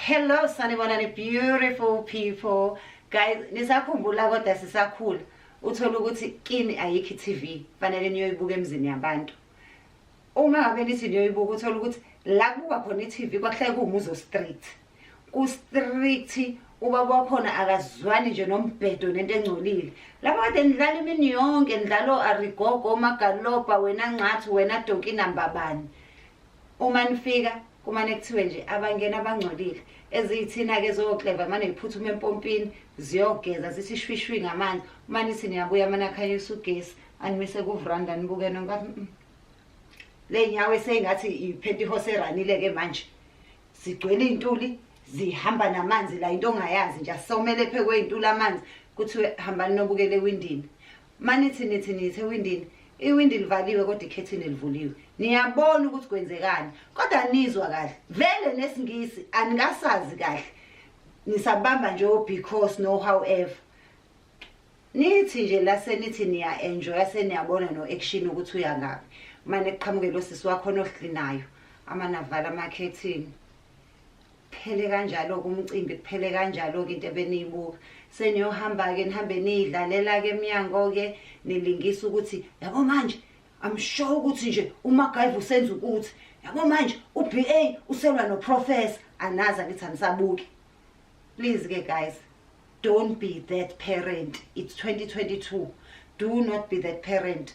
Hello sanibonani beautiful people guys nisakhumbula kodwa sisakhula uthola ukuthi kini ayikho i-TV fanele niyoyibuka emzini yabantu uma ngabe nithi niyoyibuka uthola ukuthi la kubuka khona i-TV kwakuhlale kuwumuzo street ku-street ubaba wakhona akazwani nje nombhedo nento engcolile lapho kade nidlala imini yonke nidlalo arigogo omagaloba wena ncathi wena donkinambabani uma nifika kumane kuthiwe nje abangena abangcolile eziyithina-ke zokleva mane yiphuthuma empompini ziyogeza zithi shwishwi ngamanzi uma nithi niyabuya mane akhanyisa ugesi animise kuvranda nibuke nonka mm, mm. le nyawo eseyingathi iphenti ihose eranile-ke manje zigcwele iy'ntuli zihamba namanzi la into ongayazi nje asomele phekwey'ntuli amanzi kuthiwe hambani nobukele ewindini manithi nithi nithi ewindini iwindi livaliwe kodwa ikhethini livuliwe niyabona ukuthi kwenzekani kodwa nizwa kahle vele nesingisi anikasazi kahle nisabamba nje o-because no however nithi nje la senithi niya-enjoya seniyabona no-action ukuthi uya ngaphi mane kuqhamuke lo sisi wakhona ohlinayo amanavala amakhethini kuphele kanjalo-ke umcimbi kuphele kanjalo-ke into ebeniyibuka seniyohamba-ke nihambe niyidlalela-ke emnyango-ke nilingisa ukuthi yabo manje i'm sure ukuthi nje umagayiva usenza ukuthi yabo manje u-b a uselwa noprofessor anazi akithi anisabuki please-ke guys don't be that parent it's 2022 do not be that parent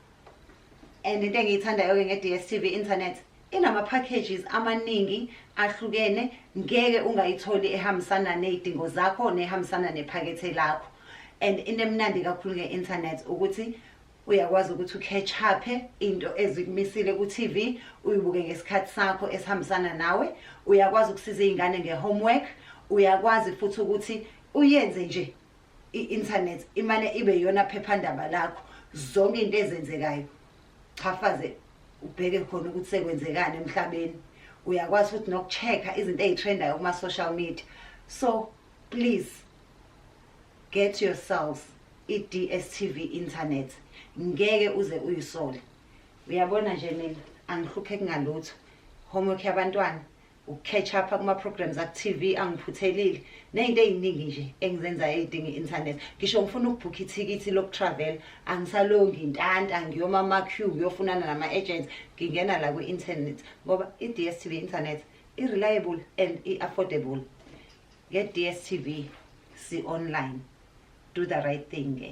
and into engiyithandayo-ke nge-dstv internet inama-packages amaningi ahlukene ngeke ungayitholi ehambisana ney'dingo zakho nehambisana nephakethe lakho and into emnandi kakhulu nge-internet ukuthi uyakwazi ukuthi ukhechaphe into ezikumisile ku-tv uyibuke ngesikhathi sakho esihambisana nawe uyakwazi ukusiza iy'ngane nge-homework uyakwazi futhi ukuthi uyenze nje i-internet imane ibe yona phephandaba lakho zonke into ezenzekayo chafaze ubheke khona ukuthi sekwenzekani emhlabeni uyakwazi futhi nokucheck-a izinto eyitrendayo kuma social media so please get yourselves i-DSTV internet ngeke uze uyisole uyabona nje mina angihluphe kungalutho homework yabantwana ukucatch up kuma-programs aku-tv angiphuthelile neyinto eyiningi nje engizenzayo eyidinga i-internet ngisho ngifuna ukubhukha ithikithi lokutravel angisalongi intanta ngiyoma ama-q ngiyofunana nama-agents ngingena la kwi-internet ngoba i-d s t v internet i-reliable and i-affordable nge-d s t v si-online do the right thing ke